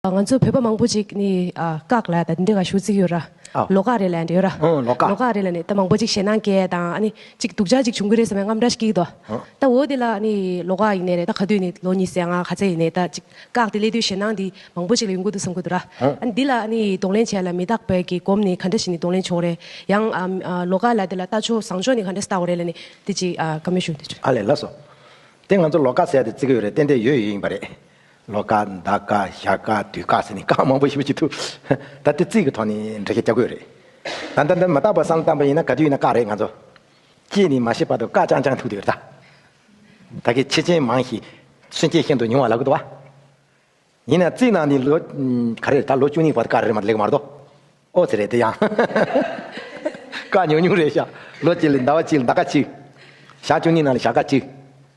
ང་ཚོ་བོད་པ་མང་པོ་ཅིག་ནི་བཀག་ལ་འདི་འདྲ་ག་ཞུ་རྩིས་ཡོད་ར། ལོ་ཀག་རེད་ལ་འདྲ་ཡོད་ར། ལོ་ཀག་རེད་ལ་ནི་ད་མང་པོ་ཅིག་ཞེད་སྣང་སྐྱེ་དང་ཨ་ནི་ཅིག་སྡུག་ཅག་ཅིག་བྱུང་གི་རེད་ཟེར་བའི་རྔམ་འདྲ་ཞིག་སྐྱིད་ཏོ། ད་འོ་དེ་ལ་ཨ་ནི་ལོ་ཀག་ཡིན་ནའི་རེད་ད་ག་དུས་ནི་ལོ་ཉིས་སེ་ང་ག་ཚད་ཡིན་ནའི་ད་ཅིག་བཀག་དེ་སླེ་དུས་ཞེད་སྣང་འདི་མང་པོ་ཅིག་ལ་ཡོང་གི་འདུག་བསམ་གི་འདུག་ར། ཨ་ནི་འདི་ལ་ཨ་ནི་གདོང་ལེན་བྱས་ལ་མི་རྟག་པའི་གི་གོམས་ནི་ག་འདྲ་ཞིག་ནི་གདོང་ལེན་བྱུང་རེད་ཡང་ལོ་ཀག་ལ་དེ་ལ་ལྟ་ཕྱོགས་བཟང་ཕྱོགས་ནི་ག་འདྲ་ས་ལྟ་བ་རེད་ལ་ནི་དེ་ཅིག་ག་མི་ཞུ། ཨ་ལས་ལ་སོ། དེ་ང་ཚོ་ལོ་ཀག་ཟེར་ཡ་དེ་རྩིས་གི་ཡོད་རེད་ཏན་ཏན་ཡོད་ཡོད་ཡིན་པ་རེད། ལོ་དཀར་ཟླ་དཀར་ཞག་དཀར་དུས་དཀར་ཟེར་ནས་དཀར་མང་པོ་ཞིག་བྱེད་ཐུབ། ད་ལྟ་རྩིས་ཀྱི་ཐོག་ནས་འགྲེལ་བཤད་བྱ་དགོས་རེད། ད་ལྟ་འདི་མི་རྟག་པར་བསམ་སྟངས་པ་ཡིན་ན་ག་དུས་ཡིན་ན་དཀར་རེད་ང་ཚོ། ཅེས་ནས་མ་ཤེས་པར་དུ་དཀར་ཅང་ཅང་ཐུག་དུས་རེད་ད། ད་གི་ཕྱི་ཆེན་མང་ཞིག་སུན་སྐྱེས་ཤིན་ཏུ་ཉུང་བ་ལགས་དུ་བ། ཡིན་ན་རྩིས་ནང་ནས་ལོ། ག་རེད་ད་ལོ་བཅུ་གཉིས་པར་དཀར་རེད་མ་ལེགས་མ་རེད་དོ། ཨོ་ཟེར་རེད་དེ་ཡང། དཀར་ཉུང་ཉུང་རེད་ཤག་ལོ་གཅིག་ལ་ཟླ་བ་གཅིག་ལ་ཟླ་དཀར་གཅིག། ཞག་བཅུ་གཉིས་ནང་ལ་ཞག་དཀར་གཅིག།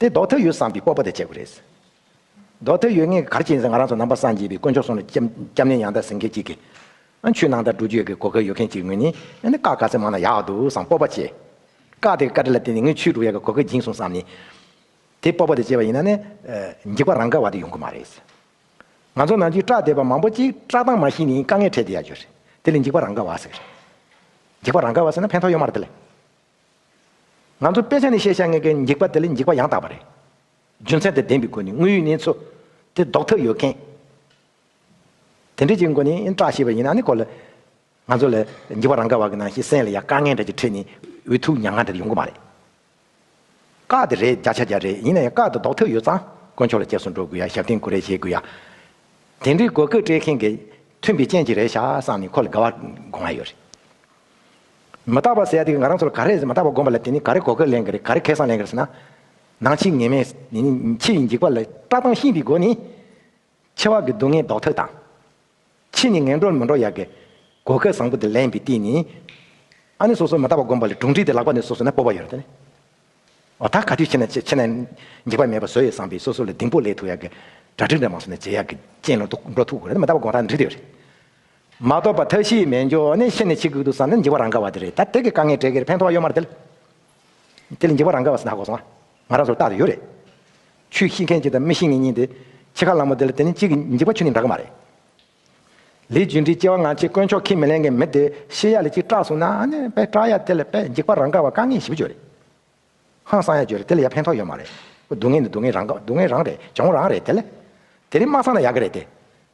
དེ་ལྡོག་ཐབས་ཡོད་བསམ་པའི་སྤོབས་པ་དེ་བྱེད་དགོས་རེད། ལྡོག་ཐབས་ཡོད་ངེས་གར་བྱེད་ཡིན་ཟེར་ང་རང་ཚོ་ནང་པ་སངས་རྒྱས་པའི་དཀོན་མཆོག་སོང་ནས་སྐྱབས་གནས་ཡང་དག་ཟིན་མཁན་ཅིག་གིས། ཆུ་ནང་དང་འགྲུལ་བསྐྱོད་ཀྱི་གོ་སྐལ་ཡོད་མཁན་ཅིག་ངོས་ནས་ནི་བཀག་ག་ཚད་མང་ན་ཡག་འདུག་བསམ་སྤོབས་པ་བྱེད། བཀག་དེ་བཀའ་ཁྲི་ལ་བརྟེན་ནས་ངས་ཆུའི་འགྲུལ་བསྐྱོད་ཀྱི་གོ་སྐལ་སྦྱིན་སོང་བསམ་ནས། དེ་སྤོབས་པ་དེ་བྱེད་པ་ཡིན་ན་ནི། འགྱིག་པ་རང་འགག་བ་དེ་ཡོང་གི་མ་རེད། ང་ཚོ་ནང་ཆུའི་བཀྲག་བསྡད་པ་མང་པོ་ཅིག་བཀྲག་མདངས་མ་ཤེས་ནས་དཀའ་ངལ་འཕྲད་དེ་ཡག་རྒྱུ་རེད། དེ་ལས་འགྱིག་པ་རང་འགག་བ་ཟེར། འགྱིག་པ་རང་འགག་བ་ཟེར་ན་ཕན་ཐོགས་ཡོད་མ་རེད་དེ་ལས། ང་ཚོ་དཔེ་ཆ་ནས་ཤེས་བྱ་ངེས་ཀྱི་འགྱིག་པ་དེ་ལས་འགྱིག་པ་ཡང་དག་པ་རེད། རྒྱུ་མཚན་དེ་ལྡན་པའི་སྒོ་ནས་དངོས་ཡོད་གནས་ཚུལ་དེ་ལྡོག་ཐབས་ཡོད་མཁན། དེ་འདྲའི་ཅིག་སྒོ་ནས་བཀྲག་ཤེས་པ་ཡིན་ན་ནི་གོ་ལ། ང་ཚོ་ལ་འགྱིག་པ་རང་ག་བ་གི་ནང་ཤི་གསན་ལ་ཡ་དཀའ་ངལ་འདྲ་གྱི་ཁྲོད་ནས་འུ་ཐུག་མྱ་ངན་འདྲ་དེ་ཡོང་གི་མ་རེད། བཀག་དེ་རེད་བརྒྱ་ཆ་བརྒྱ་རེད་ཡིན་ན་ཡང་བཀག་དེ་ལྡོག་ཐབས་ཡོད་ཙང་དཀོན་མཆོག་ལ་སྐྱབས་སུ་འགྲོ་དགོས་ཡ་ཞབས་བརྟན་ཀུ་རེ་བྱེད་དགོས་ཡ། དེ་འདྲའི་དགོས་མཁོ་སྤྲད་མཁན་གྱི་མཐུན་པའི་རྐྱེན་གྱིས་རེད་ཤག་བསམ་ནས་ཁོ་ལ་དགའ་བ་དགོངས་ཡོད་རེད། མི་རྟག་པ་ཟེར་ཡ་དེ་ང་རང་ཚོ་ལ་ག་རེ་མི་རྟག་པ་བསྒོམ་པ་ལ་དེ་ནི་ག་རེ་གོ་སྐལ་ལེན་གི་རེད་ག་རེ་ཁེ་བཟང་ལེན་གི་རེད་ཟེར་ན། ནང་ཕྱིའི་ངེས་མེད་ཕྱི་ཡི་འཇིགས་པ་ལ་བཀྲག་མདངས་ཤིང་པའི་སྒོ་ནི། ཕྱི་བ་གི་སྡུག་བསྔལ་ལྡོག་ཐབས་དང། ཕྱི་ནི་ངན་འགྲོར་མི་འགྲོ་ཡ་གི། གོ་སྐལ་བཟང་པོ་དེ་ལེན་པའི་སྟེང་ནི། ཨ་ནི་སོ་སོ་མི་རྟག་པ་བསྒོམ་པ་ལ་གྲུང་དྲི་དེ་ལག་པ་ནས་སོ་སོ་ན་སྤོབས་པ་ཡོད་རེད་དེ་ནི། འོ་ད་ག་དུས་ཕྱི་ན་ཕྱི་ན་འཇིགས་པ་མེད་པ་བཟོ་ཡོད་བསམ་པའི་སོ་སོ་ལ་གདིང་པོ་ལེགས་ཐུག་ཡ་གི། གྲ་སྒྲིག་འདྲ་མང་བཟོ་ནས་བྱེད་ཡ་གི་ཅན་ལ་འགྲོ་ཐུག་དགོས་རེད་མི་རྟག་པ་བསྒོམ་ད་འདྲི་དེ་ཡོད་རེད། མ་གཏོགས་པ་མཐའ་བཞིའི་སྨན་སྦྱོར་ནི་ཤི་ནས་ཕྱི་གེགས་དུག་སྲང་ནི་འཇིག་པ་རང་ག་བ་དེ་རེད་ད་དེ་གི་དཀའ་ངལ་བྲལ་གེར་ཕན་ཐོག་གཡོ་མར་དེ་དེ་ལས་འཇིག་པ་རང་ག་བ་སྲི་ད་གོ་སོང་ང་ང་རང་ཚོར་བརྟག་དུ་ཡོད་རེད་ཆུ་ཤི་མཁན་གཅིག་དང་མི་ཤི་ངེ་གཉིས་དེ་ཕྱི་ཁ་ལང་མོ་དེ་ལ་དེ་ནི་གཅིག་གི་འཇིག་པ་ཆུ་ནི་འདྲ་གི་མ་རེད། ལི་ཇུན་གྲིའི་སྐྱེ་བ་ང་ཆེ་དཀོན་མཆོག་ཁས་མི་ལེན་མཁན་མི་དེ་ཤི་ཡ་ལ་གཅིག་སྐྲག་སོང་ན་ནི་དཔེ་སྐྲག་ཡ་དེ་ལ་དཔེ་འཇིག་པ་རང་ག་བ་དཀའ་ངལ་ཞིབ་བརྗོད་རེད་ཧང་སང་ཡ་བརྗོད་རེད་དེ་ལ་ཡ་ཕན་ཐོག་ཡོད་མ་རེད་སྡུག་བསྔལ་ནི་སྡུག་བསྔལ་རང་ག་སྡུག་བསྔལ་རང་རེད་བྱུང་རང་རེད་དེ་ལ་དེ་རིང་མ་སང་ན་ཡག་གི་རེད་དེ།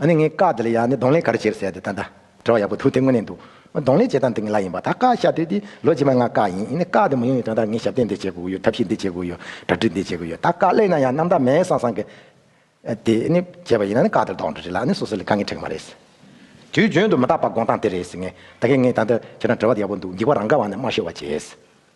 ཨ་ནི་ངའི་བཀའ་དེ་ལ་ཡང་ནི་གདོང་ལེན་ག་རེ་བྱེད་ཟེར་ཏེ་ད་ད། དྲི་བ་ཡག་པོ་འདུག་དེ་དངོས་གནས་འདུག། གདོང་ལེན་བྱེད་སྟངས་འདི་ངེད་ལ་ཡིན་པ་ད་བཀའ་ཤག་དེ་དེ་ལོ་རྗེས་མ་ང་བཀའ་ཡིན་ཡིན་ནས་བཀའ་དེ་མི་ཡོང་བའི་དོན་དག་ངས་ཞབས་བརྟན་འདི་བྱེད་དགོས་ཀྱི་ཡོད་ཐབས་ཤེས་འདི་བྱེད་དགོས་ཀྱི་ཡོད་གྲ་སྒྲིག་འདི་བྱེད་དགོས་ཀྱི་ཡོད་ད་བཀའ་གླེང་ན་ཡང་རྣམ་དག་མེད་སངས་སངས་ཀྱི། དེ་ནི་བྱས་པ་ཡིན་ན་ནི་བཀའ་དེར་དོགས་འདྲི་རེད་ལ་ཨ་ནི་སོ་སོ་ལས་དཀའ་ངལ་འཕྲད་ཀྱི་མ་རེད། དུས་རྒྱུན་དུ་མི་རྟག་པ་དགོངས་སྟངས་དེ་རེད་ཟེར་ངེས་ད་གིན་ངས་ད་ལྟ་ཁྱེད་རང་དྲི་བ་དེ་ཡག་པོ་འདུག་འགྱིག་བ་རང་འགའ་བ་ནི་དམར་ཤོག་བ་བྱས།